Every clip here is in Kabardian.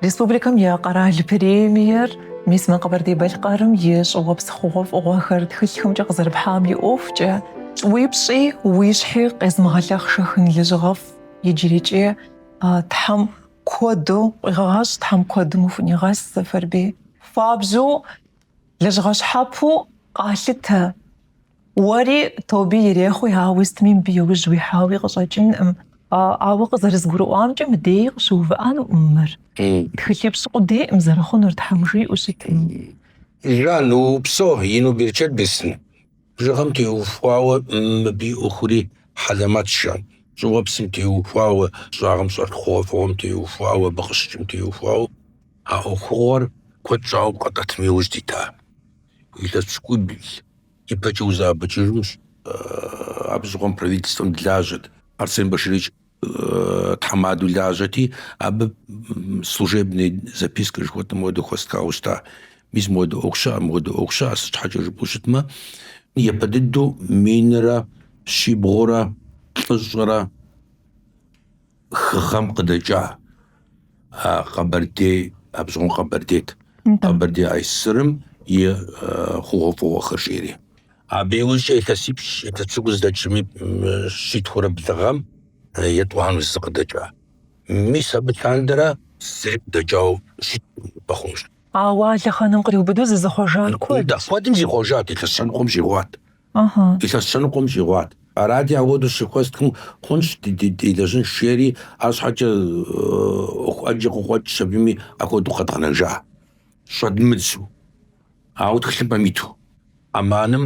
Республикэм и къэрал премиер мис мы Къэбэрдей-Балъкъэрым и щӏыуэпс хъугъуэфӏыгъуэхэр тхылъхэмкӏэ къызэрыпхьам и ӏуэхукӏэ, Уи пщӏи, уи щхьи къезмыгъэлъэхъшэхын лэжьыгъэфӏ иджырикӏи Тхьэм куэду къуигъэгъэщӏ, Тхьэм куэдым ухунигъэс, Сэфэрбий. Хуабжьу Лэжьыгъэ щхьэпэу къалъытэ. Уэри тобэ ирехъуи, ауэ сытми мыбы иужь уихьауи къыщӏэкӏынкъым. Ауэ къызэрызгурыӏуамкӏэ мыдеи къыщыувыӏэнукъым мыр. Тхылъипщӏ къудейкъым зэрыхъунур, Тхьэм жиӏэу щытми. Жан, упсэу, ину берычэт бесын. Жыгхэм теухуауэ мыбы и ӏуэхури хьэлэмэтщ, Жан. Щӏыуэпсым теухуауэ, щӏагъым щӏэлъ хъугъуэфӏыгъуэм теухуауэ, абы къыщыкӏым теухуауэ. А ӏуэхугъуэр куэд щӏауэ къэтӏэтми иужь дита илъэс пщыкӏубл ипэкӏэ узэӏэбэкӏыжынущ. Абы щыгъуэм правительствэм дылажьэт Арсен Баширович тхьэмадэу лажьэти, абы служебный записка жыхуэтӏэм хуэдэу хуэстхауэ щыта. Мис мыуэдэ ӏуэху щыӏэ, мыуэдэ ӏуэху щыӏэ, сыт щхьэкӏэ жыпӏэу щытмэ, япэ дыдэу минрэ щибгъурэ тӏощӏрэ хы гъэм къыдэкӏа къэбэрдей, абы щыгъуэм къэбэрдейт, къэбэрдей АССР-ым и хъугъуэфӏыгъуэхэр жери. Абы иужькӏэ илъэсипщӏ илъэс пщыкӏуз дэкӏми щитхурэ блы гъэм етӏуанэу зэ къыдэкӏа. Мис абы лъандэрэ зэи къыдэкӏауэ щыткъым, бэхъунущ. Ауэ а лъэхъэнэм къриубыдэу зызыхъуэжар куэд дыдэ. Куэдым зихъуэжат, илъэс щэ ныкъуэм щӏигъуат. Ыхьы. Илъэс щэ ныкъуэм щӏигъуат. Арати, апхуэдэу щыхуэстхым, хъунщ делэжьынщ жери, арщхьэкӏэ ӏуэху ӏэджэ къыкъуэкӏщ абыми апхуэдэу къэдгъэнэжа. Щӏэдмыдзу, ауэ тхылъымпӏэм иту. АМАН-ым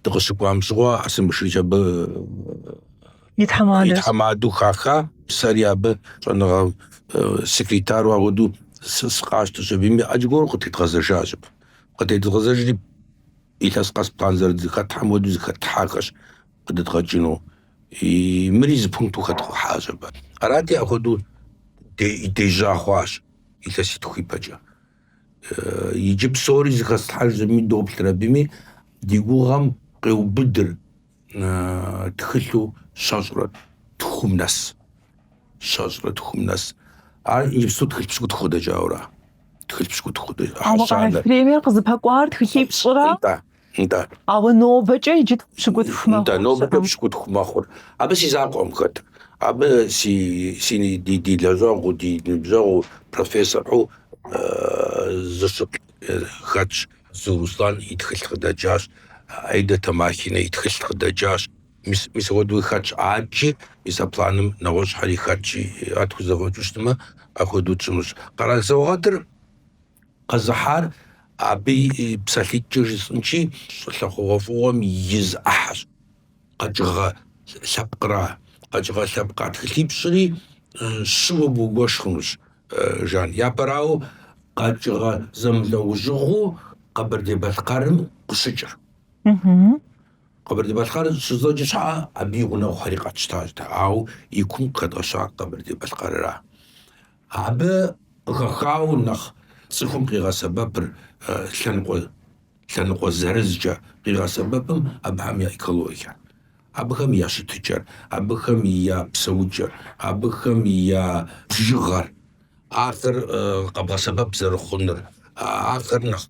дыкъыщыкӏуам щыгъуэ Арсен Баширович абы и тхьэмадэу хаха, сэри абы щӏэныгъэ секретару апхуэдэу сы- сыкъащтэщ абыми, иджы аргуэру къытедгъэзэжащ абы. Къытедгъэзэжри, Илъэс къэс план зэрызыхэтлъхьэм хуэдэу зыхэтлъхьахэщ къыдэдгъэкӏыну. Мыри зы пункту хэтлъхьащ абы. Арати, апхуэдэу дежьа хъуащ илъэситху ипэкӏэ. Иджы псори зыхэслъхьэж зыми доплъыр абыми, ди гугъэм къеубыдыр. тхылъу щэщӏрэ тхум нэс. Щэщӏрэ тхум нэс. Ар иджыпсту тхылъ пщыкӏутху къыдэкӏауэра? Тхылъ пщыкӏутху къыдэкӏа. Ауэ къэрал премиер къызыпэкӏуар тхылъипщӏрэ? Нтӏэ, нтӏэ. Ауэ нобэкӏэ иджы тху пщыкӏутху мэхъу. Нтӏэ, нобэкӏэ пщыкӏутху мэхъур. Абы си закъуэкъым хэт. Абы си си ди лэжьэгъуу, ди ныбжьэгъуу, профессору зыщыплӏ хэтщ. Дзу Руслан и тхылъ къыдэкӏащ, Аида Тамахинэ и тхылъ къыдэкӏащ. Мис, мис апхуэдэуи хэтщ аджи, мис а планым нэгъуэщӏхэри хэтщ, ар тхузэфӏэкӏыу щытмэ, апхуэдэу тщӏынущ. Къэрал саугъэтыр къэзыхьар абы и псалъитӏкӏэ жысӏынщи, щӏылъэ хъугъуэфӏыгъуэм и зы ӏыхьэщ. Къэкӏыгъэ лъэпкъра? Къэкӏыгъэ лъэпкъа тхылъипщӏри щыуэ бгуэш хъунущ, Жан. Япэрауэ, къэкӏыгъэ зэмылӏэужьыгъуу Къэбэрдей-Балъкъэрым къыщыкӏыр. Къэбэрдей-Балъкъэр жызоӏэ щхьэкӏэ, абы и гъунэгъухэри къэтщтащ дэ, ауэ и кум къыхэдгъэщар Къэбэрдей-Балъкъэрра? Абы къыхэхауэ нэхъ цӏыхум къигъэсэбэпыр лъэныкъуэ лъэныкъуэ зырызкӏэ къигъэсэбэпым абыхэм я экологиер, абыхэм я щытыкӏэр, абыхэм я псэукӏэр, абыхэм я бжыгъэр, ахэр къэбгъэсэбэп зэрыхъунур, ахэр нэхъ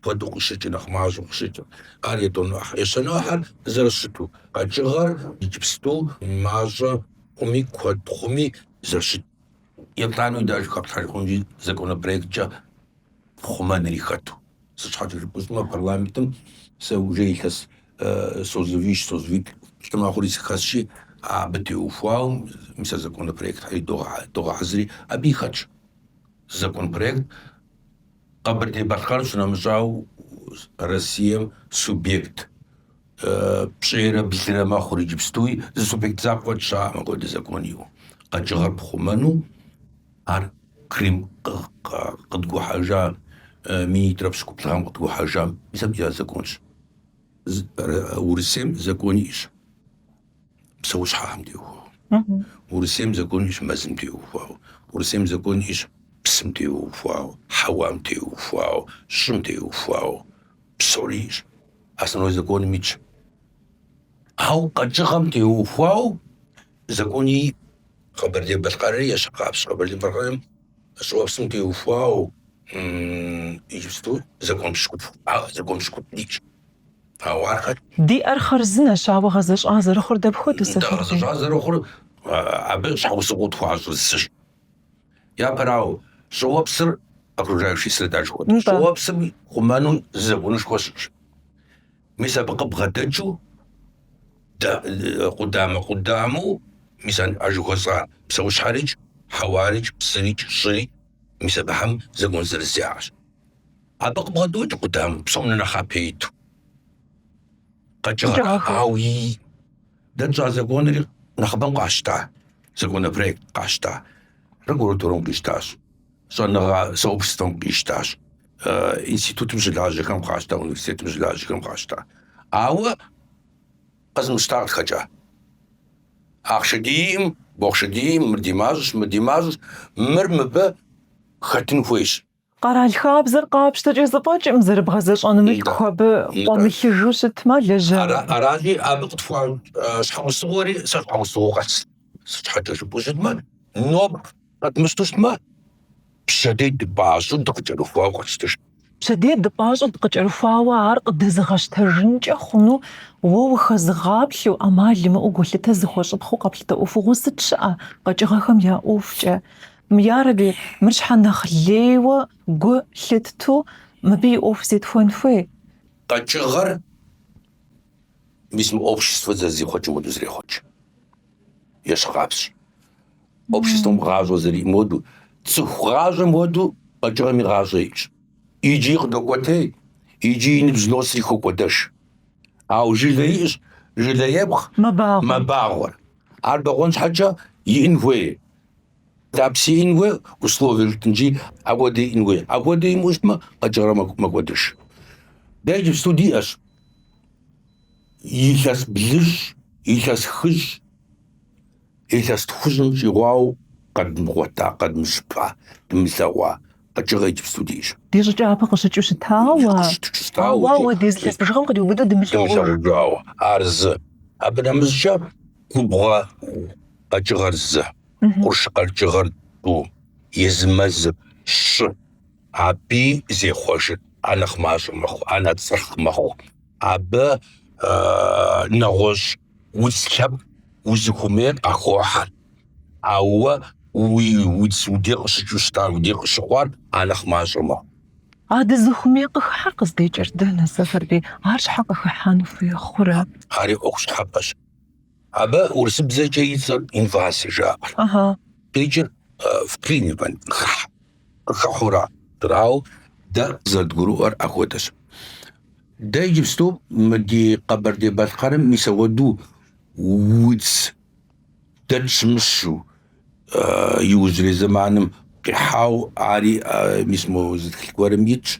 куэду къыщыкӏыр, нэхъ мащӏэу къыщыкӏыр, ар етӏуанэу ӏыхьэр, ещанэу ӏыхьэр зэрыщыту, къэкӏыгъэр иджыпсту мащӏэ хъуми, куэд хъуми зэрыщыт Еплӏанэу деж хэплъхьэж хъунщи, законопроекткӏэ хъумэнри хэту. Сыт щхьэкӏэ жыпӏэу щытмэ, парламентым сэ уже илъэс созывищ, созывитӏ мэхъури сыхэсщи, абы теухуауэ мис а законопроектхэри догъэхьэзыри, абыи хэтщ законопроект Къэбэрдей-Балъкъэр щынэмыщӏауэ Россием субъект. Пщӏейрэ блырэ мэхъур иджыпстуи зы субъект закъуэ щыӏэкъым апхуэдэ закон иӏэу. Къэкӏыгъэр пхъумэну ар Крым къыдгухьэжа минитӏрэ пщыкӏуплӏ гъэм къыдгухьэжам исхэм я законщ. Урысейм закон иӏэщ псэущхьэхэм теухуауэ. Урысейм закон иӏэщ мэзым теухуауэ. Урысейм закон иӏэщ псым теухуауэ, хьэуам теухуауэ, щӏым теухуауэ. Псори итщ, основной законым итщ. Ауэ къэкӏыгъэм теухуауэ закон и Къэбэрдей-Балъкъэрри ещхьыркъабзэщ Къэбэрдей-Балъкъэрым щӏыуэпсым теухуауэ иджыпсту закон пщыкӏуплӏ, закон пщыкӏуплӏ итщ. Ауэ ахэр диӏэр хъарзынэщ, ауэ гъэзэщӏа зэрыхъур дапхуэдэу сэхур? Гъэзэщӏа зэрыхъур абы щхьэусыгъуэу тхуащӏыр зыщ. Япэрауэ, щӏыуэпсыр окружающей среда жыхуэтӏэщ. Нтӏэ. Щӏыуэпсыр хъумэным зы законышхуэ щыӏэщ. Мис абы къыбгъэдэкӏыу да- э, къудамэ-къудамэу, мис а- а жыхуэсӏа псэущхьэрикӏ, хьэуарикӏ, псырикӏ, щӏырикӏ, мис абыхэм закон зырыз яӏэщ. Абы къыбгъэдэкӏыу къудамэу, псом нэхъапэ иту къэкӏыгъэр. Ауи Дэ тщӏа законри нэхъыбэм къащта, законопроект къащта, прокуратурэм къищтащ, щӏэныгъэ сообществэм къищтащ, институтым щылажьэхэм къащта, университетым щылажьэхэм къащта. Ауэ къэзымыщта къытхэкӏа. Ахъшэ диӏым, бохъшэ диӏым, мыр ди мащӏэщ, мыр ди мащӏэщ, мыр мыбы хэтын хуейщ. Къэрал хабзэр къапщтэкӏэ зэфӏэкӏым зэрыбгъэзэщӏэну мылъку абы къуэмылъыжу щытмэ, лэжьа. Аращи, абы къытхуахьа щхьэусыгъуэри сэ щхьэусыгъуэ къэс. Сыт щхьэкӏэ жыпӏэу щытмэ, нобэ къэдмыщтэу щытмэ, пщэдей дыпӏащӏэу дыкъыкӏэрыхуауэ къэтщтэж. Пщэдей дыпӏащӏэу дыкъыкӏэрыхуауэ ар къыдэзыгъэщтэжынкӏэ хъуну уэ ухэзыгъаплъэу, ӏэмал имыӏэу гулъытэ зыхуэщӏыпхъэу къэплъытэ ӏуэхугъуэ сыт щыӏэ къэкӏыгъэхэм я ӏуэхукӏэ? Ярэби, мыр щхьэ нэхъ лейуэ гу лъытту мыбы и ӏуэху зетхуэн хуей? Къэкӏыгъэр, мис мы обществэр зэрызихъуэкӏым хуэдэу зрехъуэкӏ. Ещхькъабзэщ. Обществэм гъащӏэ зэриӏэм хуэдэу, цӏыху гъащӏэм хуэдэу къэкӏыгъэми гъащӏэ иӏщ. Иджи къыдокӏуэтей, иджи и ныбжь носри хокӏуэдэж. Ауэ жылэ иӏщ, жылэ епхъ мэбагъуэр. Ар бэгъуэн щхьэкӏэ иӏын хуей. Тапси иӏын хуей, условие жытӏэнщи, апхуэдэ иӏын хуей. Апхуэдэ имыӏэу щытмэ, къэкӏыгъэр мэкӏуэдыж. Дэ иджыпсту диӏэщ. Илъэс блыщӏ, илъэс хыщӏ, илъэс тхущӏым щӏигъуау къэдмыгъуэта, къэдмыщыпа, дымылъэгъуа къэкӏыгъэ иджыпсту диӏэщ. Ди щӏыпӏэ япэ къыщыкӏыу щытауэ, ауэ апхуэдиз илъэс бжыгъэм къриубыдэу дымылъэгъужауэ. Ар зы. Абы нэмыщӏкӏэ губгъуэ къэкӏыгъэр зы, къурш къэкӏыгъэр тӏу, езы мэзыр щы. Абыи зехъуэжыр анэхъ мащӏэ мэхъу, анэхъ цӏырхъ мэхъу. Абы нэгъуэщӏ удз лъэпкъ узыхуэмейр къахохьэр. Ауэ уи удз уи дей къыщыкӏыу щытар, уи дей къыщыхъуар анэхъ мащӏэ мэхъу. А дызыхуэмей къыхыхьэр къыздекӏыр дэнэ, Сэфэрбий? Ар щхьэ къыхыхьэн хуей хъурэ? Ари ӏуэху щхьэпэщ. Абы урысыбзэкӏэ и цӏэр инвазие жаӏэ. Къикӏыр вклинивание, хыхь, къыхыхьу ара. Арауэ дэ къызэрыдгурыӏуэр апхуэдэщ. Дэ иджыпсту мы ди Къэбэрдей-Балъкъэрым мис ауэду удз дэ тщымыщу, иужьрей зэманым къихьау ари мис мо зы тхылъ гуэрым итщ.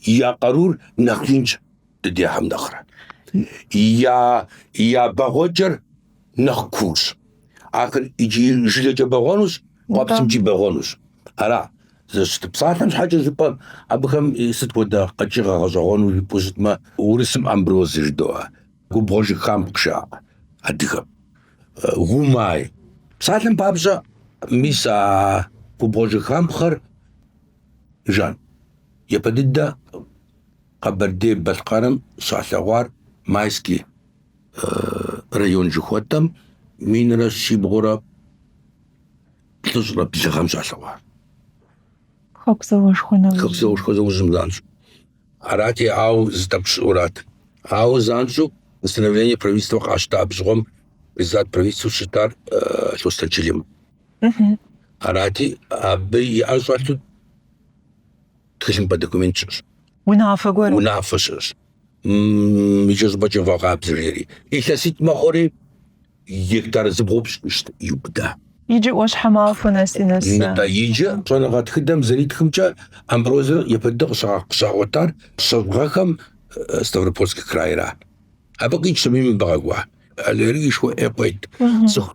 я къарур нэхъ инщ дыдехьэм нэхърэ. Я, я бэгъуэкӏэр нэхъ куущ. Ахэр икӏи жылэкӏэ бэгъуэнущ, къуэпсымкӏи бэгъуэнущ. Ара, зэрыщытыр, псалъэм щхьэкӏэ жыпӏэм, абыхэм сыт хуэдэ къэкӏыгъэ гъэщӏэгъуэну жыпӏэу щытмэ, урысым амброз жыдоӏэ, губгъуэ жыхапхъэ жаӏэ адыгэм. Гумай. Псалъэм папщӏэ, мис а губгъуэ жыхапхъэр Жан. Япэ дыдэ Къэбэрдей-Балъкъэрым щалъэгъуар Майский район жыхуэтӏэм минрэ щибгъурэ плӏыщӏрэ блы гъэм щалъэгъуар. Хэку зауэшхуэ нэужьым. Хэку зауэшхуэ нэужьым занщӏэу. Арати, ауэ зы тӏэкӏу щыӏэу арат. Ауэ занщӏэу постановление правительствэ къащта, абы щыгъуэм председатель правительствэу щытар Лъостэн Чэлим. Арати, абы и ӏэр щӏэлъу тхылъымпӏэ документ щыӏэщ. Унафэ гуэр. Унафэ щыӏэщ. Икӏэщӏыпӏэкӏэ вгъэкъабзэ жери. Илъэситӏ мэхъури гектар зыбгъупщӏ щыщт иубыда. Иджы Ӏуащхьэмахуэ нэси нэс. Нтӏэ, иджы щӏэныгъэ тхыдэм зэритхымкӏэ амброзэр япэ дыдэ къыщагъуэтар щэщӏ гъэхэм Ставропольск крайра. Абы къикӏщ абыми мыбы къэкӏуа аллергишхуэ ӏей къует цӏыху.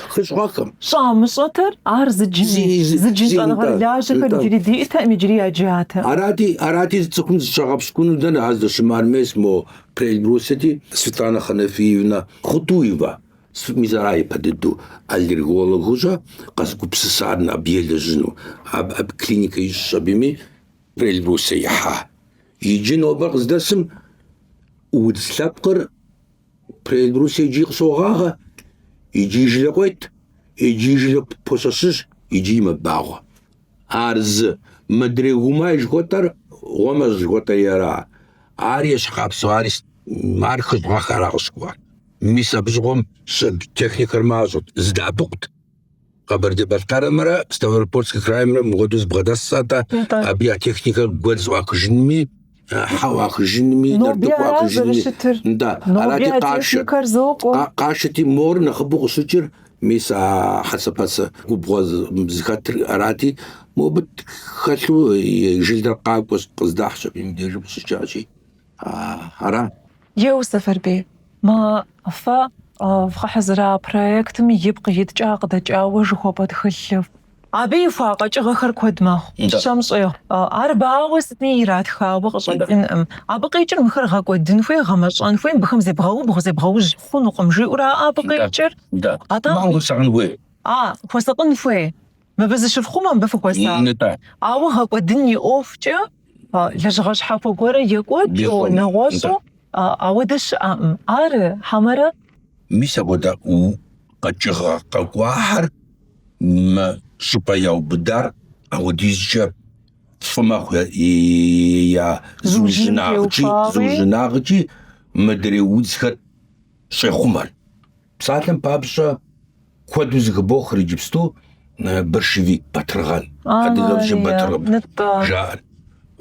хыщӏ гъэхэм. Щӏамыщӏэтэр ар зыджыни, зыджын щӏэныгъэрылажьэхэр иджыри диӏэтэкъым, иджыри яджатэ. Арати, арати зы цӏыхум зыщагъэпщкӏуну дэнэ ар здэщымыӏэр, мес мо Приэльбрусьети? Светлана Ханафиевна Хутуева, мис ара япэ дыдэу аллергологыу щӏэ къэзыгупсысар абы елэжьыну? Абы абы клиникэ ищӏщ абыми Приэльбрусье ихьа. Иджы нобэр къыздэсым удз лъэпкъыр Приэльбрусье икӏи къыщогъагъэ, икӏи жылэ къует, икӏи жылэ пощэщыж, икӏи мэбагъуэ. Ар зы, мыдрей гумай жыхуэтӏэр, гъуэмэщӏ жыхуэтӏэр ера. Ар ещхьыркъабзэу ари, ар хыщӏ гъэхэра къыщыкӏуар. Мис абы щыгъуэм сыт техникэр мащӏэт, зэдэӏэпыкъут. Къэбэрдей-Балъкъэрымрэ Ставропольскэ краймрэ мыпхуэдэу зэбгъэдэсщ атӏэ, абы я техникэр гуэдз ӏуахыжынми, хьэ ӏуахыжынми, нартыху ӏуахыжынми. Нтӏэ, арати къашэ. Къашэти мор нэхъыбэу къыщыкӏыр, мис а хьэцэпэцэ губгъуэ зыхэтыр арати, мобы хэлъу и жылэр къакӏуэщ, къыздахьщ аби мыбдежым къыщыкӏащи. ара? Еу, Сэфэрбей, мы фэ вгъэхьэзыра проектым ипкъ иткӏэ къыдэкӏауэ жыхуэпӏэ тхылъыр. Абы ихуа къэкӏыгъэхэр куэд мэхъу, щэм щӏегъу. Ар ауэ сытми иратхауэ къыщӏэкӏынкъым. Абы къикӏыр мыхэр гъэкӏуэдын хуей, гъэмэщӏэн хуей, мыбыхэм зебгъэубгъу, зебгъэужь хъунукъым жиӏэу ара абы къикӏыр. Атӏэ? Мал хуэсакъын хуей. А, хуэсакъын хуей. Мыбы зыщыфхъумэ, мыбы фыхуэсакъ. Нытӏэ. Ауэ гъэкӏуэдын и ӏуэхукӏэ лэжьыгъэ щхьэхуэ гуэрэ екӏуэкӏыу, нэгъуэщӏу ауэдэ щыӏэкъым. Ара, хьэмэрэ? Мис апхуэдэ къэкӏыгъэ къэкӏуахэр мы щӏыпӏэ яубыдар апхуэдизкӏэ фӏы мэхъу я зыужьынагъкӏи, зыужьынагъкӏи мыдрей удзхэр щӏехъумэр. Псалъэм папщӏэ, куэду зыхыбохыр иджыпсту э, борщевик батыргъэн, адыгэм батыргъэн жаӏэр.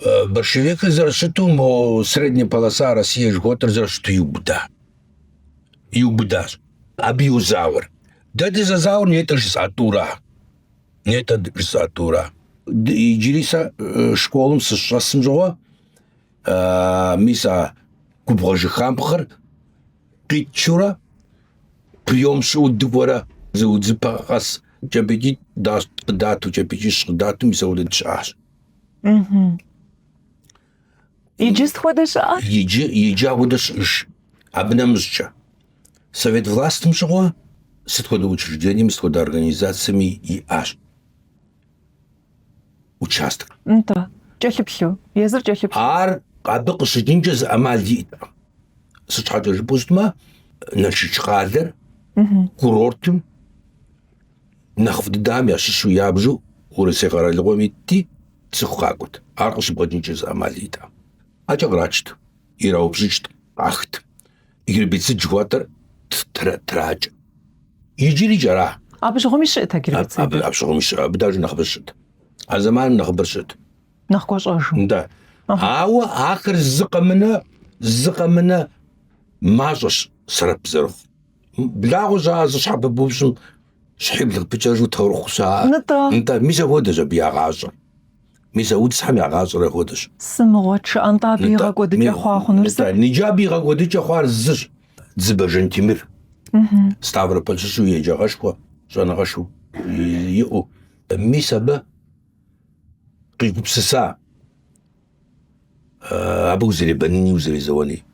Э, борщевикыр зэрыщыту мо средняя полоса Россия жыхуэтӏэр зэрыщыту иубыда. Иубыдащ. Абы йозауэр. Дэ дызэзауэр нетӏэ жысӏа тӏура. Нетӏэ жысӏа тӏура. Иджыри сэ э, школым сыщӏэсым щыгъуэ, э, мис а губгъуэ жыхампхъыр къитчурэ приём щыӏэу дыкӏуэрэ зы удзыпэ къэс кӏэпӏейкӏитӏ къыдату кӏэпӏейкӏищ къыдату, мис ауэдэ щыӏащ. Иджы ахуэдэ щыӏэ? Иджы иджы ахуэдэ щыӏэж. Абы нэмыщӏкӏэ совет властым щыгъуэ сыт хуэдэ учреждениеми, сыт хуэдэ организациеми иӏащ. участок. Нтӏэ, кӏэлъыплъу, езыр кӏэлъыплъу. Ар абы къыщыкӏынкӏэ зы ӏэмал иӏэтэкъым. Сыт щхьэкӏэ жыпӏэу щытмэ, Налшыч къалэр курортым нэхъыфӏ дыдэхэм ящыщу ябжу Урысей къэралыгъуэм итти, цӏыху къакӏуэт. Ар къыщыбгъэкӏынкӏэ зы ӏэмал иӏэтэкъым. ӏэкӏэ кърачт, ираупщӏыкӏт, къахт. Гербицид жыхуэтӏэр тракӏэ. Иджыри кӏара? Абы щыгъуэми щыӏэт а гербицид. Абы абы щыгъуэми щыӏэ, абы даже нэхъыбэр щыӏэт. А зэманым нэхъыбэр щыӏэт. Нэхъ гуащӏэжу. Да. Ауэ ахэр зы къэмынэ, зы къэмынэ мащӏэщ сэрэп зэрыхъу. Благъуэ щыӏэ зы щхьэ пыбупщӏым щхьибл къыпыкӏэжу таурыхъу щыӏэ. Нтӏэ. Нтӏэ, мис ахуэдэщ абы я гъащӏэр. Мис а удзхэм я гъащӏэр апхуэдэщ. Сыт мыгъуэ щыӏэ нтӏэ абы и гъэкӏуэдыкӏэ хъуа хъунур зыр? Нытӏэ, иджы абы и гъэкӏуэдыкӏэ хъуар зыщ, Дзыбэ Жантимир. Ставрополь щыщу еджагъэшхуэ, щӏэныгъэшхуэ иӏэу. Мис абы къигупсыса абы узэребэныни, узэрезэуэни.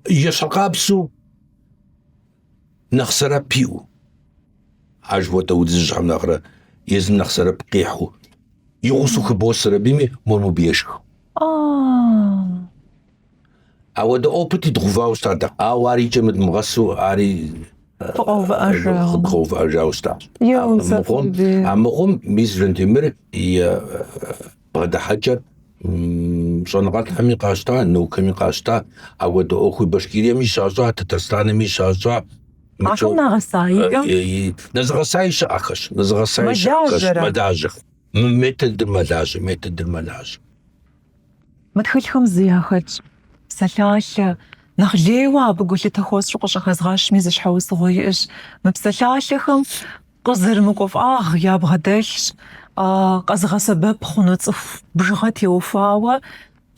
Ещхьыкъабзу нэхъ сэрэп иӏэу, ар жыхуэтӏэ удзыжьхэм нэхърэ езым нэхъ сэрэп къихьу, и гъусэу хыбосэри абыми мор мобы ешх. Ауэдэ опыти дгъэувауэ щыта дэ, ауэ ар и кӏэм нэдмыгъэсу ари къэдгъэувыӏэжауэ щытащ. Амыхъум, мис Жантемыр и Бгъэдыхьэкӏэр щӏэныгъэлӏхэми къащта, наукэми къащта, апхуэдэ ӏуэхур Башкириеми щащӏа, Татарстанми щащӏа. Ахэр нэгъэса ихэм? Нэзыгъэсаи щыӏэхэщ, нэзыгъэсаи щыӏэхэщ, мэлажьэхэр. Мы методыр мэлажьэ, методыр мэлажьэ. Мы тхылъхэм зы яхэтщ, псалъалъэ, нэхъ лейуэ абы гулъытэ хуэсщӏу къыщӏыхэзгъэщми зы щхьэусыгъуэ иӏэщ. Мы псалъалъэхэм Къызэрымыкӏуэ фӏагъ ябгъэдэлъщ, къэзыгъэсэбэп хъуну цӏыху бжыгъэ теухуауэ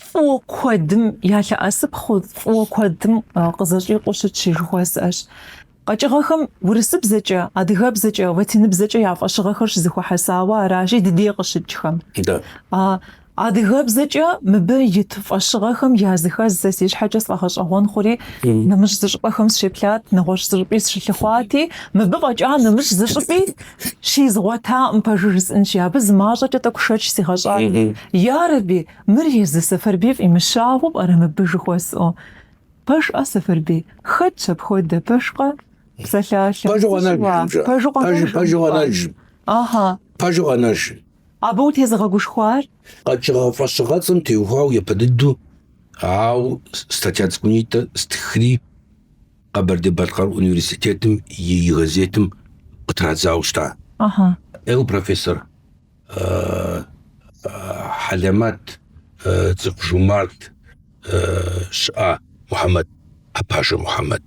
фӏыуэ куэдым ялъэӏэсыпхъэу, фӏыуэ куэдым къызэщӏикъуэу щытщ жыхуэсӏэщ. Къэкӏыгъэхэм урысыбзэкӏэ, адыгэбзэкӏэ, латиныбзэкӏэ я фӏэщыгъэхэр щызэхуэхьэсауэ аращи, ди дей къыщыкӏхэм. Адыгэбзэкӏэ мыбы ит фӏэщыгъэхэм языхэз сэ си щхьэкӏэ сфӏэгъэщӏэгъуэн хъури, нэмыщӏ зы щӏыпӏэхэм сыщеплъат, нэгъуэщӏ зы щӏыпӏи сыщылъыхъуати, мыбы фӏэкӏа нэмыщӏ зы щӏыпӏи щизгъуэтакъым, пэжу жысӏэнщи, абы зы мащӏэкӏэ тӏэкӏу шэч сигъэщӏат. Ярэби, мыр езы Сэфэрбий фӏимыщауэ пӏэрэ мыбы жыхуэсӏэу? Пэжкъэ, Сэфэрбий, хэтщ апхуэдэ, пэжкъэ? Псалъалъэ. Пэжу къэнэжым, жа. Пэжу къэнэжым. Абы утезыгъэгушхуар? Къэкӏыгъэ фӏэщыгъэцӏэм теухуауэ япэ дыдэу, ауэ статья цӏыкӏунитӏэ стхри Къэбэрдей-Балъкъэр университетым и и газетым къытрадзауэ щыта. Ага. Ӏейуэ профессор хьэлэмэт, цӏыху жумарт щыӏа Мухьэмэд, Апажэ Мухьэмэд.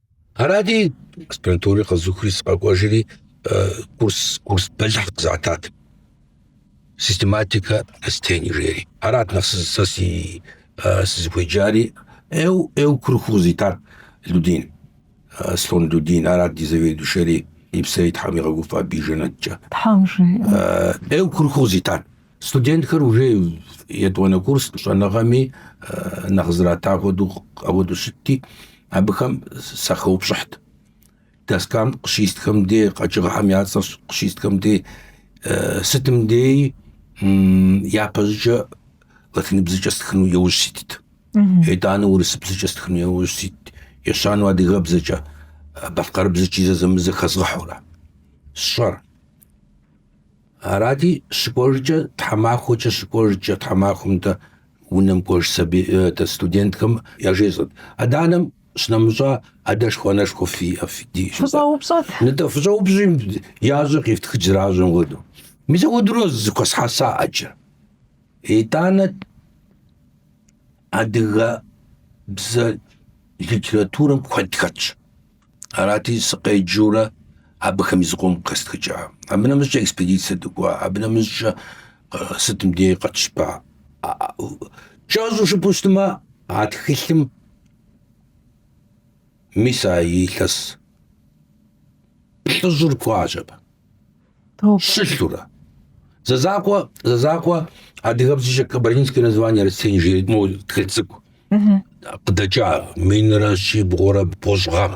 Арати, аспирантури къэзухри сыкъэкӏуэжри курс курс бэлыхь къызатат. Систематика растений жери. Арат нэхъ сэ си сызыхуеджари эу эу курыху къызитар Людин. Слон Людин арат ди заведующэри и псэри Тхьэм игъэгуфӏэ абы и жэнэткӏэ. Тхьэм жиӏэ. Эу курыху къызитар. Студентхэр уже етӏуанэ курс щӏэныгъэми нэхъ зрата хуэдэу апхуэдэу щытти, абыхэм сахэупщӏыхьт. Доскам къыщистхэм дей къэкӏыгъэхэм я цӏэр къыщистхэм дей сытым дей япэщӏыкӏэ латиныбзэкӏэ стхыну иужь ситт. Итӏанэ урысыбзэкӏэ стхыну иужь ситт. Ещанэу адыгэбзэкӏэ, балъкъэрыбзэкӏи зэзэмызэ хэзгъэхьурэ. Сщӏэр. Арати, щыкӏуэжкӏэ тхьэмахуэкӏэ щыкӏуэжкӏэ тхьэмахуэм дэ унэм кӏуэж сабий дэ студентхэм яжесӏэт. Адэ-анэм щынэмыщӏа адэшхуэ-анэшхуэ фиӏэ фи? Фыщӏэупщӏэт. Нытӏэ, фыщӏэупщӏи, ящӏэр къифтхыкӏ зэращӏэм хуэдэу. Мис апхуэдэурэ зэхуэсхьэса ӏэджэ. Итӏанэ адыгэбзэ литературэм куэд хэтщ. Арати, сыкъеджэурэ абыхэми зыкъом къистхыкӏа. Абы нэмыщӏкӏэ экспедицэ дыкӏуа, абы нэмыщӏкӏэ сытым дей къэтщыпа. Кӏэщӏу жыпӏэу щытмэ, а тхылъым мис а илъэс плӏыщӏыр хуащӏэп. Щылъурэ. Зэзакъуэ, зэзакъуэ адыгэбзэкӏэ кабардинские названия растений жиӏэри моуэ тхыль цӏыкӏу. Къыдэкӏа минрэ щибгъурэ бгъущӏ гъэм.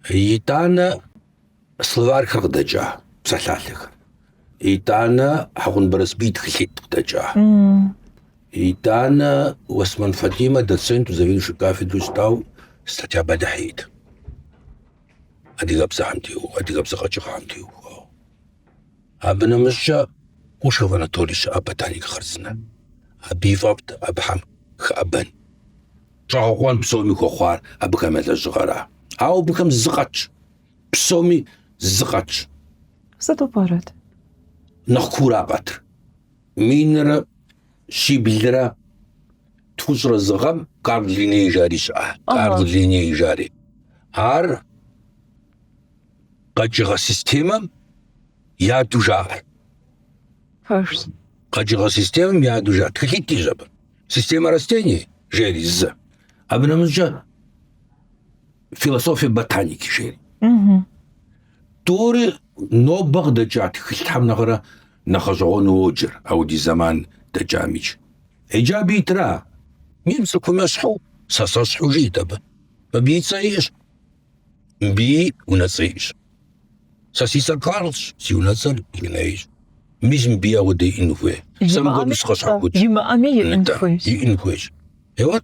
Итӏанэ словархэр къыдэкӏа псалъалъэхэр. Итӏанэ Хьэкъун Барэсбий тхылъитӏ къыдэкӏа. Итӏанэ Осман Фатимэ доценту, заведующий кафедру щытау статья бэлыхь иӏэт. адыгэбзэхэм теухуа, адыгэбзэ къэкӏыгъэхэм теухуауэ. Абы нэмыщӏкӏэ Кушхов Анатолий щыӏэ ботаник хъарзынэ. Абы и фӏэфӏт абыхьэм хэӏэбэн. Щӏэгъэкъуэн псоми хуэхъуар абыхэм я лэжьыгъэра. Ауэ абыхэм зы къатщ. Псоми зы къатщ. Сыту пӏэрэт? Нэхъ куура къатыр. Минрэ щиблрэ тхущӏрэ зы гъэм Карл Линней жари щыӏэ. Карл Линней жари. Ар къэкӏыгъэ системэм я адэу жаӏэ. Фэшс. Къэкӏыгъэ системэм я адэу жаӏэ. Тхылъитӏ иӏэщ абы. Система растений жери зы. Абы нэмыщӏкӏэ философия ботаники жери. Угу. Тӏури нобэ къыдэкӏа тхылъхьэм нэхърэ нэхъ гъэщӏэгъуэну уоджэр, ауэдиз зэман дэкӏамикӏ. Иджы абы итра? Мы цӏыхум ещхьу, сэ сэщхьу жит абы. Мыбыи цӏэ иӏэщ. Мыбыи унэцӏэ иӏэщ. Сэ си цӏэр Карлщ, си унэцӏэр Линнейщ. Мис мыбыи ауэдэ иӏэн хуей. Сэ мыбы дысхъэщхьэхукӏ. Имыӏэми иӏэн хуейщ. Иӏэн хуейщ. Еуэт,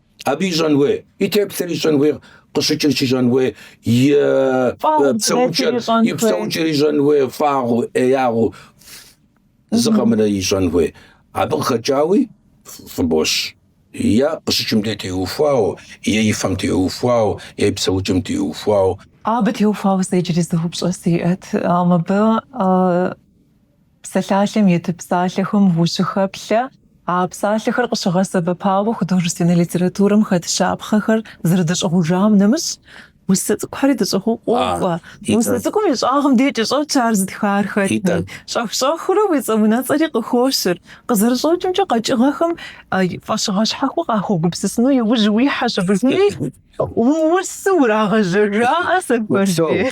Абы ищӏэн хуей, и теплъэр ищӏэн хуей, къыщыкӏыр щищӏэн хуей, и псэукӏэр, и псэукӏэр ищӏэн хуей, фӏагъу, ӏеягъу, зы къэмынэу ищӏэн хуей. Абы къыхэкӏауи фӏыбощ. Е къыщыкӏым де теухуау, е и фэм теухуау, е и псэукӏэм теухуау. Абы теухуауэ сэ иджыри зы упщӏэ сиӏэт. Мыбы Псалъалъэм ит псалъэхэм ущыхэплъэ, а псалъэхэр къыщыгъэсэбэпауэ художественнэ литературэм хэт щапхъэхэр зэрыдыщӏыгъужам нэмыщӏ, усэ цӏыкӏухэри дыщӏыгъуу къокӏуэ. Усэ цӏыкӏум и щӏагъым дейкӏэ щӏэтщ ар зытхар хэтми. Щӏэх-щӏэхыурэ уи цӏэ-унэцӏэри къыхощыр. Къызэрыщӏэкӏымкӏэ, къэкӏыгъэхэм фӏэщыгъэ щхьэхуэ къахуэгупсысыну иужь уихьэщ абыхэми уусэу урагъэжьэжаӏэ сэ хуэди.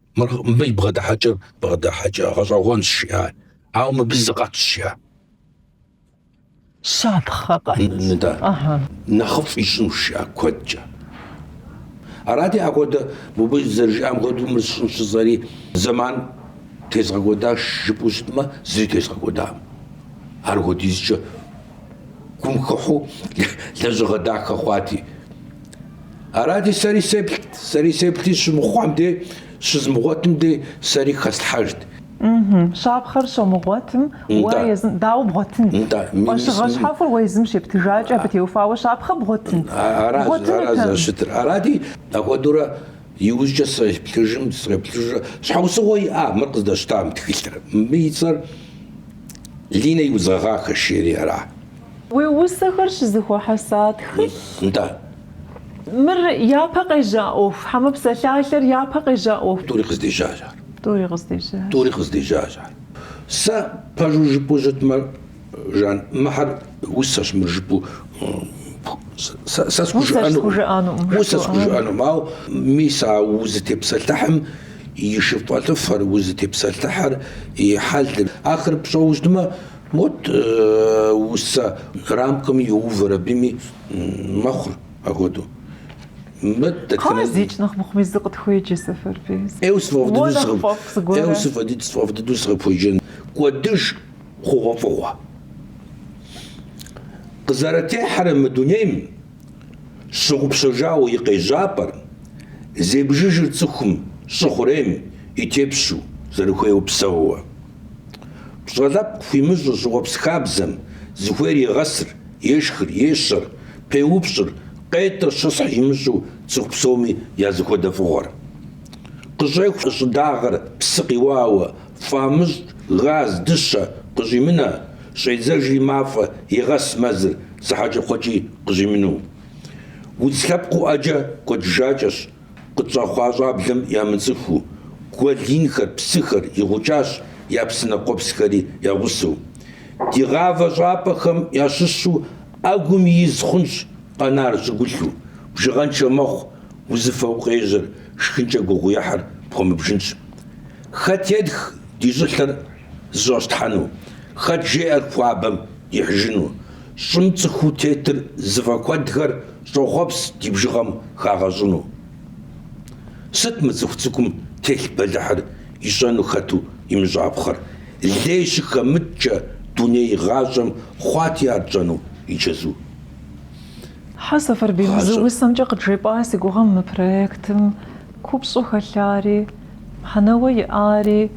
Мыр мыбы и бгъэдыхьэкӏэр бгъэдыхьэкӏэ гъэщӏэгъуэнщ жиӏа. Ауэ мыбы зы къэтщ жиӏа. Щапхъэ къэт. Нэхъыфӏ ищӏынущ жиӏа куэдкӏэ. Арати, апхуэдэ мыбы зэрыжиӏам хуэдэу мыр сщӏынщ жысӏэри зэман тезгъэкӏуэдащ жыпӏэу щытмэ, зыри тезгъэкӏуэдакъым. Ар хуэдизкӏэ гум хыхьэу лэжьыгъэ дахэ хъуати. Арати, сэри сеплът, сэри сеплъи щымыхъуам де, щызмыгъуэтым де сэри хэслъхьэжт. Щапхъэр щумыгъуэтым уэ езым дауэ бгъуэтынт? Фӏэщыгъэ щхьэхуэр уэ езым щептыжакӏэ, абы теухуауэ щапхъэ бгъуэтынт? Бгъуэтынутэкъым. Аращ зэрыщытыр. Арати, апхуэдэурэ иужькӏэ среплъыжым, среплъыжурэ, щхьэусыгъуэ иӏа мыр къыздэсщтам тхылъыр? Мыбы и цӏэр Линэ и удз гъэгъахэ жери ара? Уи усэхэр щызыхуэхьэса тхылъ. Нтӏэ. Мыр япэ къежьа ӏуэху. Хьэмэ псалъалъэр япэ къежьа ӏуэху. Тӏури къыздежьащ ар. Тӏури къыздежьащ. Тӏури къыздежьащ ар. Сэ пэжу жыпӏэу щытмэ, Жан, мыхьэр усэщ, мыр жыпӏэу сэ усэ схужыӏэнукъым. Ауэ мис а узытепсэлъыхьым и шыфэлӏыфэр, узытепсэлъыхьыр и хьэлыр, ахэр пщӏэуэ щытмэ, Вот усэ рамкэми йоувэр абыми мэхъур апхуэдэу. Мыт Хъэ, дэтхэнэ зикӏ нэхъ мыхъуми зы къытхуеджэ, Сэфарбий. Ӏейуэ Уэ сыфӏэфӏ дыдэу нэхъ фӏэфӏ сыкъы... Ӏейуэ зыгуэрэ. сыфӏэ дыд- сфӏэфӏ дыдэу сыкъыпхуеджэн. Кӏуэдыж хъугъуэфӏыгъуэ. Къызэрытехьэрэ мы дунейм щыгъупщэжауэ и къежьапӏэр, зебжыжыр цӏыхум щӏы хъурейм и тепщу, зэрыхуейуэ псэууэ. Пщӏэ лъэпкъ хуимыщӏу щӏыуэпс хабзэм, зыхуейр егъэсыр, ешхыр, ещэр, пеупщӏыр, къетӏыр щысхь имыщӏу цӏыху псоми я зэхуэдэ фӏыгъуэр. Къыщӏеху щӏыдагъэр псы къиуауэ, фӏамыщӏ, газ, дыщэ, къыщӏимынэ, щӏедзэжри мафӏэ, егъэс мэзыр, зы хьэкӏэкхъуэкӏи къыщӏимынэу. Удз лъэпкъыу ӏэджэ кӏуэдыжакӏэщ, Къытщӏэхъуа щӏаблэм ямыцӏыхуу, гуэл инхэр, псыхэр игъукӏащ, я псынэ къуэпсхэри я гъусэу. Ди гъавэ щӏапӏэхэм ящыщу ӏэгум из хъунщ къэнар щӏыгулъу, бжыгъэншэ мэхъу, узыфэу къежьэр, шхынкӏэ гугъуехьыр пхуэмыбжынщ. Хэт етх ди щӏылъэр зэщӏэщтхьэну, хэт жеӏэр хуабэм ихьыжыну. Щӏым цӏыхуу тетыр зыфӏэкуэдхэр щӏохъуэпс ди бжыгъэм хагъэщӏыну. Сыт мы цӏыху цӏыкӏум телъ бэлыхьыр ищӏэну хэту имыщӏапхъэр? Лей щыхэмыткӏэ дуней гъащӏэм хъуати ар тщӏэну и чэзу. Хьэ, Сэфарбий, мы зы усэмкӏэ къыджепӏа си гугъэм мы проектым купщӏу хэлъари, мыхьэнэуэ иӏари,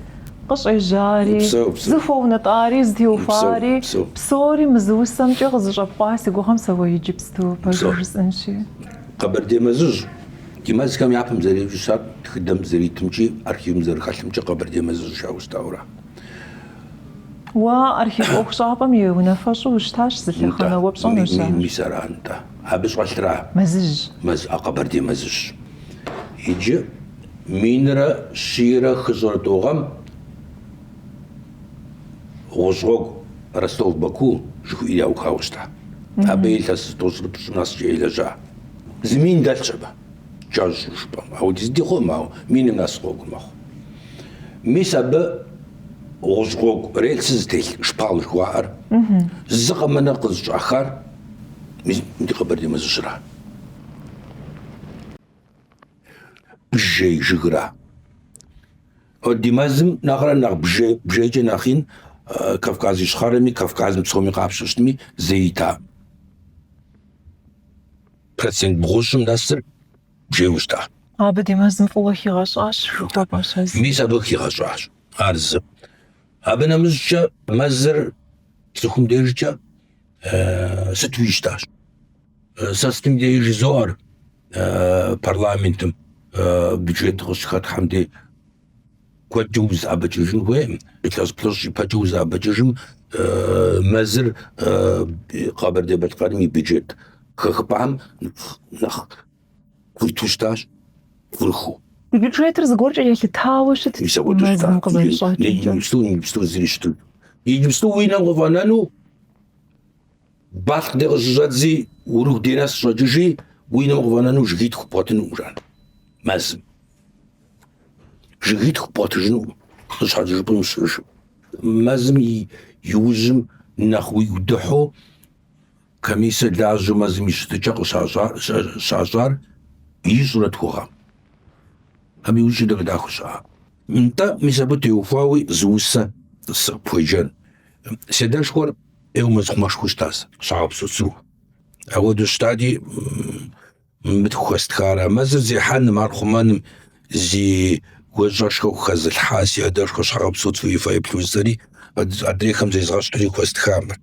къыщӏежьари, зыхуэунэтӏари, зытеухуари, псори мы зы усэмкӏэ къызыщӏэпкъуа си гугъэм сэ уэ иджыпсту пэжу жысӏэнщи. Къэбэрдей Мэзыжь ди мэзхэм япэм зэреджэу щытар тхыдэм зэритымкӏи, архивым зэрыхэлъымкӏи Къэбэрдей Мэзыжь жаӏэу щытауэ ара? Уэ архив ӏуэхущӏапӏэм и унафэщӏу ущытащ, зы лъэхъэнэ уэ пщӏэнущ ар. Мис ара, нтӏэ. Абы щӏэлъра? Мэзыжь. Мэз, а къэбэрдей мэзыжьщ. Иджы минрэ щийрэ хыщӏрэ тӏу гъэм гъущӏ гъуэгу Ростов-Баку жыхуиӏи яухауэ щыта. Абы илъэс зытӏощӏрыпщӏ нэскӏэ елэжьа. Зы мин дэлъщ абы. Кӏэщӏу жыпӏэм, ауэ ди зыдихъуэм, ауэ миным нэс гъуэгу мэхъу. Мис абы гъущӏ гъуэгу рельсыр зытелъ шпал жыхуаӏэр, зы къэмынэ къызыщӏахар мис ди Къэбэрдей мэзыжьыра? Бжей жыгра? Ди мэзым нэхърэ нэхъ бжей, бжейкӏэ нэхъ ин Кавказ Ищхъэрэми, Кавказым псоми къапщтэми зэи ита. Процент бгъущӏым нэсыр бжейуэ щыта? Абы ди мэзым фӏыуэ хигъэщӏащ жыхуэпӏэщ а зы. Мис абы хигъэщӏащ ар зы. Абы нэмыщӏкӏэ мэзыр цӏыхум дежкӏэ сыту щытащ. Сэ сытым дежи жызоӏэр парламентым бюджет къыщыхэтлъхьэм дей куэдкӏэ узэӏэбэкӏыжын хуейкъым, илъэс плӏыщӏ ипэкӏэ узэӏэбэкӏыжым мэзыр Къэбэрдей-Балъкъэрым и бюджет хэхыпӏэхэм нэхъ курыту щытащ, курыху. Ди бюджетыр зыгуэркӏэ елъытауэ щытт. Мис апхуэдэу щытащ. Мэзым къызэрыщӏэкӏымкӏэ. Иджыпсту, иджыпсту зыри щытын. Иджыпсту уи нэм къыфӏэнэну Балъкъ дей къыщыщӏэдзи, Урыху дей нэс щӏэкӏыжи, уи нэм къыфӏэнэну жыгитху бгъуэтынукъым жан. Мэзым. Жыгитху бгъуэтыжынукъым, къыщхьэкӏыжыпӏэм щыжым. Мэзым и иужьым нэхъ уигу дыхьэу комиссэ лажьэу мэзым и щытыкӏэ къыщащӏар ищӏрэ тху гъэм. Абы иужь дахэ-дахэу щыӏа. Нтӏэ, мис абы теухуауи зы усэ сыкъыпхуеджэн. Си адэшхуэр Еуэ мэзхъумэшхуэу щытащ, Щхьэгъэпсо Цу. Апхуэдэу щытати, мыдэ хуэстхара, мэзыр зехьэным, ар хъумэным зи гуащӏэшхуэ хэзылъхьа си адэшхуэ Щхьэгъэпсо Цу и фэеплъу сэри адрейхэм зезгъэщхьри хуэстха мыр.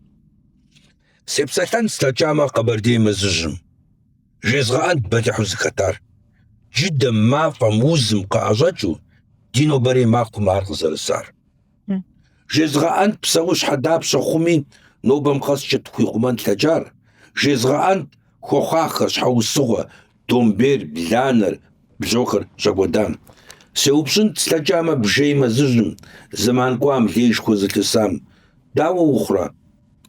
Сепсэлъэн слъэкӏамэ Къэбэрдей мэзыжьым. Жезгъэӏэнт бэлыхьу зыхэтар. Джыдэм, мафӏэм, узым къыӏэщӏэкӏыу, ди нобэрей махуэм ар къызэрысар. Жезгъэӏэнт псэущхьэ дапщэ хъуми, нобэм къэскӏэ тхуихъумэн лъэкӏар, жезгъэӏэнт хуэхъуахэр, щхьэусыгъуэ, домбейр, бланэр, бжьохэр щӏэкӏуэдам. Сеупщӏынт слъэкӏамэ бжей мэзыжьым, зэман кӏуам, лейшхуэ зылъысам, Дауэ ухъурэ?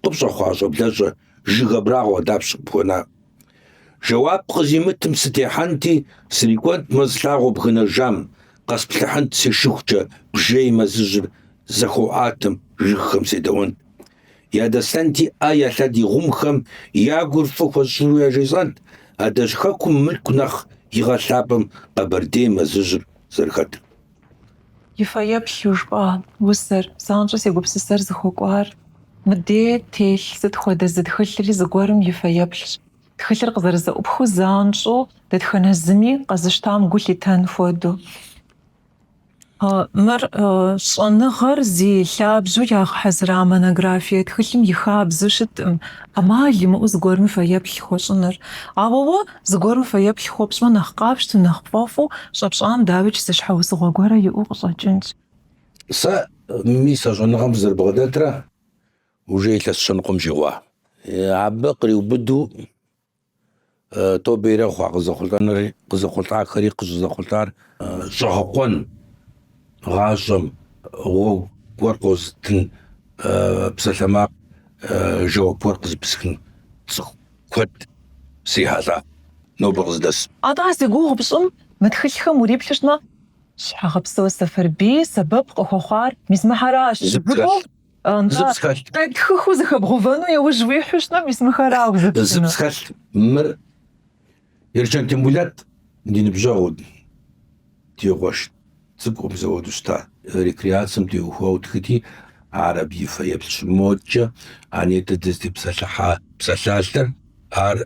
Къыпщӏэхъуа щӏэблэщӏэ Жыг абрагъуэ дапщ къыпхуэна? Жэуап къызимытым сытехьэнти, срикӏуэнт мэз лъагъуэ бгынэжам, къэсплъыхьынт сешыхукӏэ бжей мэзыжьыр зэхуаӏуатэм жыгхэм седэӏуэнт. Ядэслъэнти ӏэ я лъэдий гъумхэм я гур фӏы хуэсщӏыну яжесӏэнт адэжь хэкум мылъку нэхъ игъэлъапӏэм къэбэрдей мэзыжьыр зэрыхэтыр. И фэеплъу жыпӏа усэр, занщӏэу си гупсысэр зыхуэкӏуар? Мыдей телъ сыт хуэдэ зы тхылъри зыгуэрым и фэеплъщ. Тхылъыр къызэрызэӏупхыу занщӏэу дэтхэнэ зыми къэзыщтам гу лъитэн хуэдэу. Мыр щӏэныгъэр зи лъабжьэу ягъэхьэзыра монографие тхылъым и хабзэу щыткъым, ӏэмал имыӏэу зыгуэрым фэеплъ хуэщӏыныр. Ауэ уэ Зыгуэру фэеплъ хуэпщӏмэ, нэхъ къапщтэу, нэхъ пфӏэфӏу щӏэпщӏам дауикӏ зы щхьэусыгъуэ гуэрэ иӏэу къыщӏэкӏынщ. Сэ мис а щӏэныгъэм сызэрыбгъэдэтрэ уже илъэс щэ ныкъуэм щӏигъуа. Абы къриубыду тобэ ирехъу, а къызэхъулӏэнри, къызэхъулӏахэри къыщӏызэхъулӏар щӏэгъэкъуэн гъащӏэм гъуэгу гуэр къозытын псалъэмакъ жэуап гуэр къызыпысхын цӏыху куэд срихьэлӏа нобэ къыздэс. Атӏэ зи гугъу пщӏым мы тхылъхэм уриплъу щытмэ, Щхьэгъэпсо Сэфарбий сэбэп къыхуэхъуар мис мыхьэращ жыпӏэу, нтӏэ, къетхыхыу зэхэбгъувэну яужь уихьэу щытмэ, мис мыхьэрау зыпщӏынур. Зыпсхэлъ мыр. Ерчэн Тембулэт ди ныбжьэгъут, ди гъуэшт цӏыкӏум зэуэду щыта. Рекреацием теухуауэ тхыти, ар абы и фэеплъщ, мокӏэ, а нетӏэ дызытепсэлъыхьа псалъалъэр, ар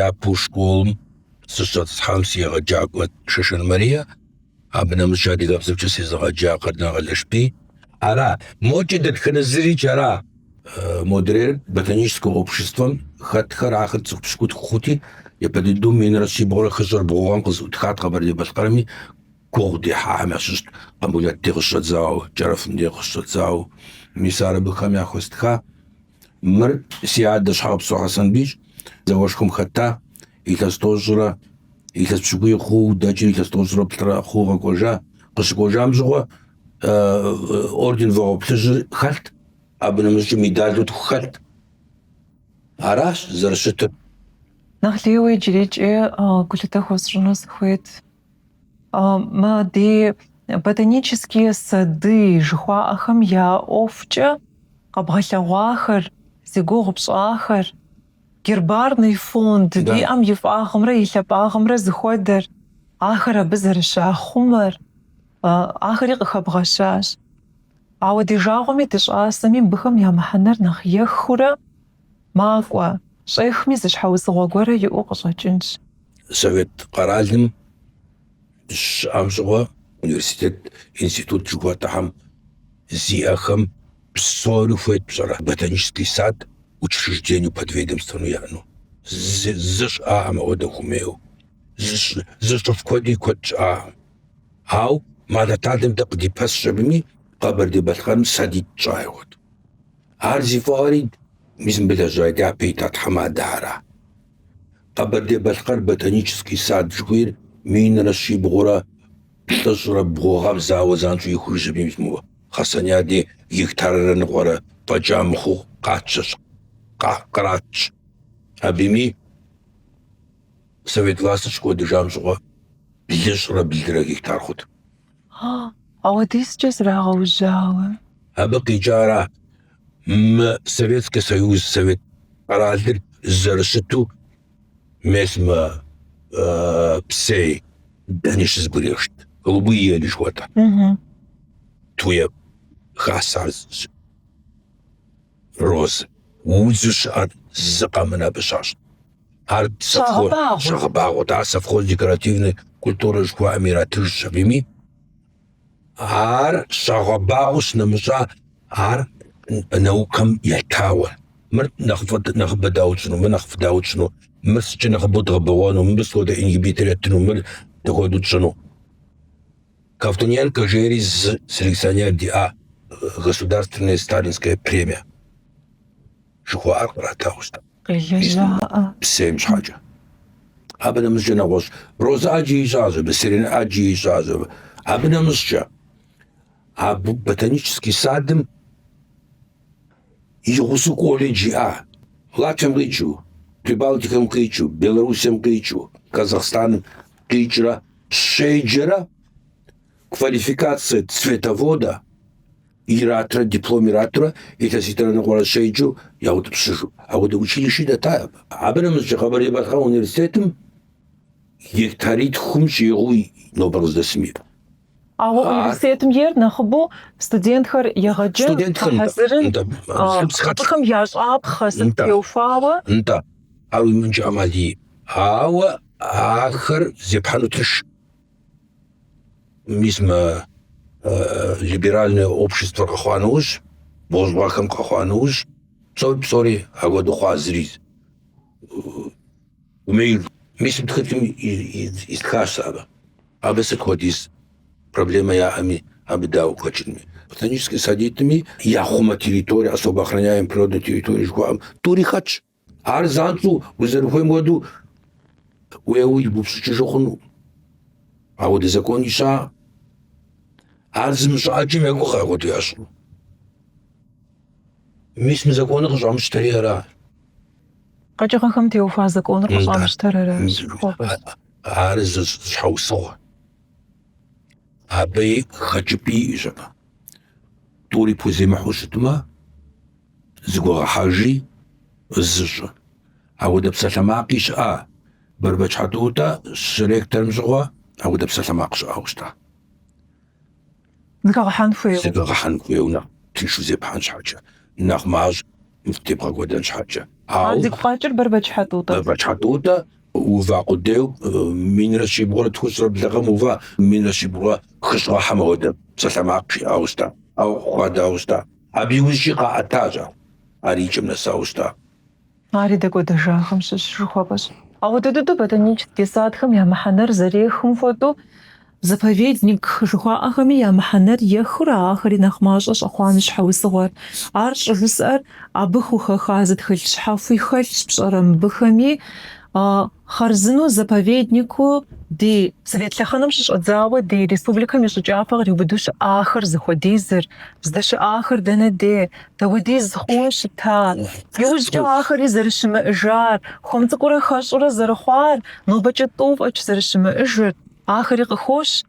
япэу школым сыщыщӏэтӏысхьам си егъэджакӏуэт Шэшэн Марие. Абы нэмыщӏ адыгэбзэкӏэ сезыгъэджа Къардэн Къэлэшбий. Ара, мокӏэ дэтхэнэ зырикӏ ара. Э, модрейр ботаническэ обществэм хэтхэр ахэр цӏыху пщыкӏутху хъути, япэ дыдэу минрэ щибгъурэ хыщӏрэ бгъу гъэм къызэӏутхат Къэбэрдей-Балъкъэрми, гугъу дехьахэм ящыщт Къамбулэт дей къыщыщӏэдзауэ, Кӏэрэфым дей къыщыщӏэдзауэ. Мис ар абыхэм яхуэстха. Мыр си адэ Щхьэгъэпсо Хьэсэнбийщ, зауэшхуэм хэта, илъэс тӏощӏрэ илъэс пщыкӏуий хъууэ дэкӏри илъэс тӏощӏрэ плӏырэ хъууэ къэкӏуэжа. Къыщыкӏуэжам щыгъуэ орден Вагъуэ Плъыжьыр хэлът, абы нэмыщӏкӏэ медалу тху хэлът. Аращ зэрыщытыр. Нэхъ лейуэ иджырикӏи гулъытэ хуэсщӏыну сыхуейт. Мы ди ботанические сады жыхуаӏэхэм я ӏуэхукӏэ къэбгъэлъэгъуахэр, зи гугъу пщӏахэр, гербарный фонд, диӏэм и фӏагъымрэ и лъапӏагъымрэ зыхуэдэр, ахэр абы зэрыщахъумэр, ахэри къыхэбгъэщащ. Ауэ ди жагъуэми ди щӏасэми абыхэм я мыхьэнэр нэхъ ехыурэ, Макӏуэ, щӏехми зы щхьэусыгъуэ гуэрэ иӏэу къыщӏэкӏынщ. Совет къэралым щыӏэм щӏыгъуэ университет, институт жыхуэтӏэхэм зиӏэхэм псори хуейт пщӏэрэ? Ботанический сад учреждению подведомственнэу яӏэну, зы щыӏакъым апхуэдэ хуэмейуэ, зыщӏыф куэди куэд щыӏакъым. Ауэ мы Алыхьталэм дэ къыдипэсщ абыми, Къэбэрдей-Балъкъэрым садитӏ щыӏэ хъуат. Ар зи фӏыгъэри мис мыбы лэжьа дяпэ ита тхьэмадэхэра. Къэбэрдей-Балъкъэр ботанический сад жыхуиӏэр минрэ щибгъурэ плӏыщӏрэ бгъу гъэм зауэ занщӏэу и ужьым мис мо Хасанья дей гектаррэ ныкъуэрэ фӏэкӏа мыхъуу къатщэщ, къратщ. Абыми совет властыр щыкӏуэдыжам щӏыгъуэ блыщӏрэ блырэ гектар хъут. Ауэдизкӏэ зрагъэужьауэ. Абы къикӏара мы Советский Союз Совет къэралыр зэрыщыту мес мо псей дэни щызэбгришт. Голубые ели жыхуэтӏэ. Туя хасащ, розэ. Удзу щыӏэр зы къэмынэ абы щащӏ. Ар щагъэбагъуэт а совхоз Декоративные культуры жыхуаӏэм иратыжщ абыми. Ар щагъэбагъуэ къынэмыщӏа ар наукэм етауэ. Мыр нэхъыфӏ, нэхъыбэ дауэ тщӏыну, мыр нэхъыфӏ дауэ тщӏыну, мыр сыткӏэ нэхъыбэу дгъэбэгъуэну, мыбы схуэдэ ингибитор еттыну, мыр дыхуэдэу тщӏыну. Ковтуненко жери зы селекционер диӏа государственная сталинская премия. жыхуаӏэр къратауэ псейм щхьэкӏэ. Абы нэмыщӏкӏэ нэгъуэщӏ розэ ӏэджи ищӏащ, абы сирень ӏэджи ищӏащ. Абы нэмыщӏкӏэ абы ботанический садым и гъусэу колледж иӏа Латвием къикӏыу, Прибалтикэм къикӏыу, Белоруссием къикӏыу, Казахстаным къикӏрэ щеджэрэ Квалификацие цветовода иратрэ диплом иратрэ илъэситӏрэ ныкъуэрэ щеджэу яутӏыпщыжу. Апхуэдэ училищи дэтат абы. Абы нэмыщӏкӏэ Къэбэрдей-Балъкъэр университетым гектаритхум щӏигъуу нобэр къыздэсым иӏэ. Ауэ университетым ейр нэхъыбэу студентхэр егъэджэн, гъэхьэзырын, абыхэм ящӏапхъэ сыт теухуауэ? Нтӏэ, ар уимыӏэнкӏэ ӏэмал иӏэ. Ауэ ахэр зепхьэну тынш. мис мы либеральнэ обществэр къэхъуа нэужь, буржуахэм къэхъуа нэужь, псори псори апхуэдэу хъуа зыри хуэмей мис мы тхылъым истхащ сэ абы. Абы сыт хуэдиз проблемэ яӏэми, абы дауэ хэкӏынми. Ботанический садитӏми яхъумэ территория, особо охраняемый природный территория жыхуаӏэм тӏури хэтщ. Ар занщӏэу узэрыхуейм хуэдэу уеуэу ибупщӏыкӏыжу хъуну. Ауэ ди закон ища ар зымыщӏэжым ягугъэ хуэдэу ящӏу. Мис мы законыр къыщӏамыщтэри ара? Къэкӏыгъэхэм теухуа законыр къыщӏамыщтэр ара? Ар зы щхьэусыгъуэ. Абы и хэкӏыпӏи щыӏэ. Тӏури пхуземыхьу щытмэ, Зэгуэгъэхьэжи, зы щӏы. Апхуэдэ псалъэмакъи щыӏа? Бэрбэч Хьэтӏутӏэ щректорым щыгъуэ апхуэдэ псалъэмакъ щыӏауэ щыта? Зэгуэгъэхьэн хуейуэ. Зэгуэгъэхьэн хуейуэ нэхъ тыншу зепхьэн щхьэкӏэ, нэхъ мащӏ тебгъэкӏуэдэн щхьэкӏэ. Ауэ. А зигу къэкӏыр Бэрбэч Хьэтӏутӏэт. Бэрбэч Хьэтӏутӏэ ува къудейу минрэ щибгъурэ тхущӏрэ блы гъэм ува, минрэ щибгъурэ хыщӏ гъэхэм апхуэдэ псалъэмакъ щыӏауэ щыта? Ауэ хуадауэ щыта? Абы иужькӏи къаӏэтащ ар. Ар и кӏэм нэсауэ щыта. Ари дэкӏуэдэжахэм щыщ жыхуэпӏэщ. Апхуэдэ дыдэу ботанический садхэм я мыхьэнэр зэрехым хуэдэу, заповедник жыхуаӏэхэми я мыхьэнэр ехыурэ ахэри нэхъ мащӏэ щӏэхъуам щхьэусыгъуэр. Ар щӏыжысӏэр абы хухэха зы тхылъ щхьэхуи хэлъщ пщӏэрэ мыбыхэми Хъарзынэу заповеднику ди Совет лъэхъэнэм щыщӏэдзауэ ди республикэм и щӏы кӏапэ къриубыдэу щыӏахэр зыхуэдизыр, здэщыӏахэр дэнэ де, дауэдиз хъууэ щыта, иужькӏэ ахэри зэрыщымыӏыжар, хуэм цӏыкӏурэ хэщӏурэ зэрыхъуар, нобэкӏэ тӏу фӏэкӏ зэрыщымыӏыжыр, ахэри къыхощ.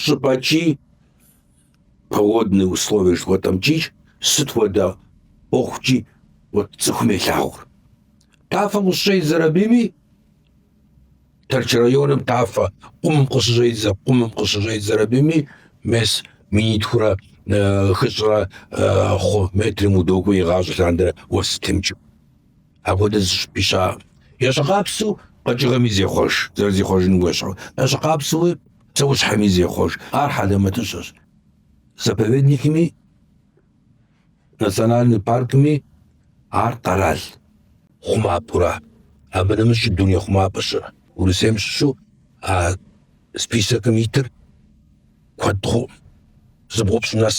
щӏыпӏэкӏи погодные условия жыхуэтӏэмкӏи сыт хуэдэ ӏуэхукӏи цӏыхум елъагъур. Тафэм къыщыщӏедзэри абыми Тэрч районым тафэ къумым къыщыщӏедзэ къумым къыщыщӏедзэри абыми мес минитхурэ хыщӏрэ хъу метрым удокӏуэ игъащӏэ лъандэрэ уэс щытемыкӏыу. Апхуэдэ зыщӏыпӏи щыӏэкъым. Ещхьыркъабзэу къэкӏыгъэми зехъуэж, зэрызихъуэжыным уещӏэу. Ещхьыркъабзэуи псэущхьэми зехъуэж. Ар хьэлэмэтыщэщ. Заповедникми, национальный паркми ар къэрал хъумапӏэура. Абы нэмыщӏ дуней хъумапӏэ щыӏэ. Урысейм щыщу а списокым итыр куэд хъуӏым. Зыбгъупщӏ нэс.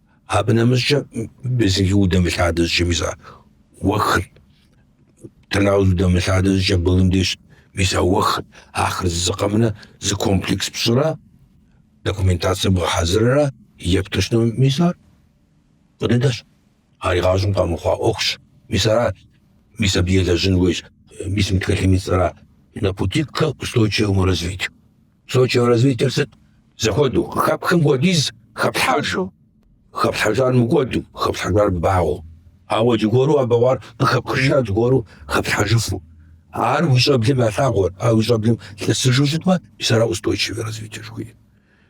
Абы нэмыщӏкӏэ Безенги удэмылъадэ щӏыкӏэ мис а уэхыр, Тырныауз удэмылъадэ щӏыкӏэ Былым деж мис а уэхыр, ахэр зы къэмынэу зы комплекс пщӏырэ документацие бгъэхьэзыррэ епту щытмэ, мис ар къыдэдэщ. Ар игъащӏэм къэмыхъуа ӏуэхущ. Мис ара, мис абы елэжьын хуейщ, мис мы тхылъым и цӏэра, на пути к устойчивому развитию. Устойчивое развитиер сыт? Зэхуэдэу, къыхэпхым хуэдиз хэплъхьэжу. Хэплъхьэжар мыкӏуэду, хэплъхьэжар багъуэу. Ауэ зыгуэру а бэгъуар къыхэпхыжа зыгуэру хэплъхьэжыфу. Ар уи щӏэблэм ялъагъуэр, ар уи щӏэблэм лъэсыжу щытмэ, мис ара устойчивое развитие жыхуиӏэр.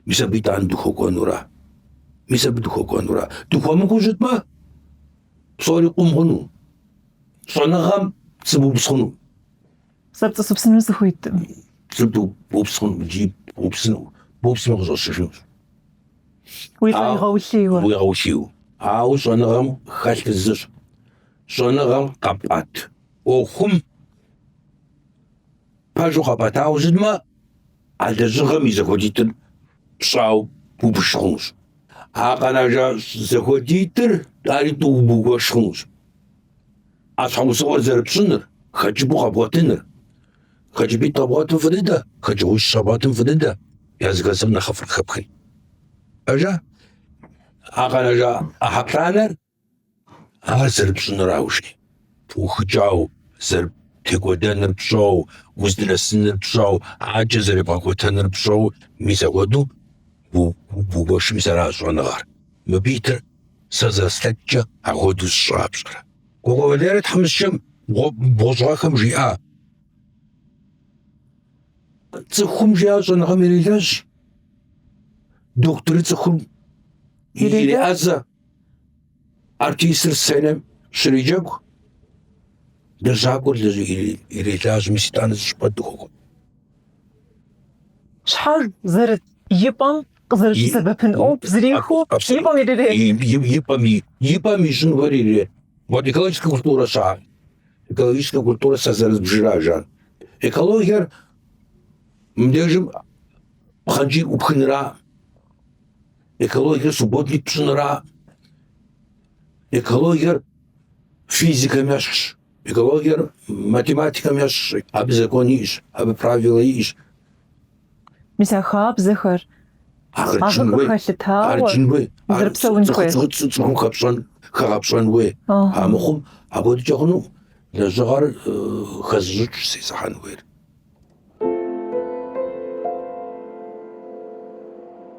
Мис абы итӏанэ дыхуэкӏуэнура? Мис абы дыхуэкӏуэнура? Дыхуэмыкӏуэу щытмэ, псори къум хъуну, щӏэныгъэм пцӏы бупс хъуну. Сэ пцӏы сыупсыну сыхуейтэкъым. Пцӏы бупс хъун икӏи бупсыну, бупсмэ къыщӏэщыжынущ. Укъигъэулъийуэ. Уигъэулъийуэ. Ауэ щӏэныгъэм хэлъ зыщ. Щӏэныгъэм къэпӏэт ӏуэхум пэжу къэпӏэтауэ щытмэ, а лэжьыгъэм и зэхуэдитӏыр пщӏауэ ббж хъунущ. А къэнажа зэхуэдитӏыр ари тӏууэ бгуэш хъунущ. А щхьэусыгъуэр зэрыпщӏыныр, хэкӏыпӏэу къэбгъуэтыныр. Хэкӏыпӏитӏ къэбгъуэтым фӏы дыдэ, хэкӏыгъуищ къэбгъуэтым фӏы дыдэ, языхэзым нэхъыфӏыр къыхэпхын. Ажа? А къэнэжа ӏыхьэ плӏанэр ар зэрыпщӏыныр аужри, пыухыкӏауэ, зэрытекӏуэдэныр пщӏэу, уздынэсыныр пщӏэу, адэкӏэ зэребгъэкӏуэтэныр пщӏэу, мис ахуэдэу бгуэшым мис ара щӏэныгъэр. Мыбы итыр Сэ зэрыслъэкӏкӏэ апхуэдэу сщӏа пщӏэрэ? Кӏуэкӏуэ Валерэ тхьэмыщкӏэм бгъущӏ гъэхэм жиӏа? Цӏыхум жиӏа щӏэныгъэм ирелэжь. Дохутырыр цӏыхум иреӏэзэ. Артистыр сценэм щреджэгу. Лэжьакӏуэр ирелажьэ, мис итӏанэ зыщӏыпӏэ дыхуэкӏуэ. Щхьэж зэрыт и пӏэм къызэрыщысэбэпын ӏуэху зэрихуэу и пӏэм ирырет. И пӏэм и пӏэм и щӏынгуэр ирет. Вот экологическэ культурэ щыӏэр. Экологическэ культурэ сэ зэрызбжыращ ар. Экологиер мыбдежым пхъэнкӏий ӏупхынра, экологиер субботник пщӏынра, экологиер физикэм ещхьщ, экологиер математикэм ещхьщ, абы закон иӏэщ, абы правилэ иӏэщ. Мис а хабзэхэр къагъэкӏын хуей, яджын хуей, зэрыпсэун хуей. Цӏыхум хэпщӏэн, хэгъэпщӏэн хуей. А мыхъум апхуэдэкӏэ хъуну лэжьыгъэр хэзыщӏыкӏ сесыхьэн хуейр.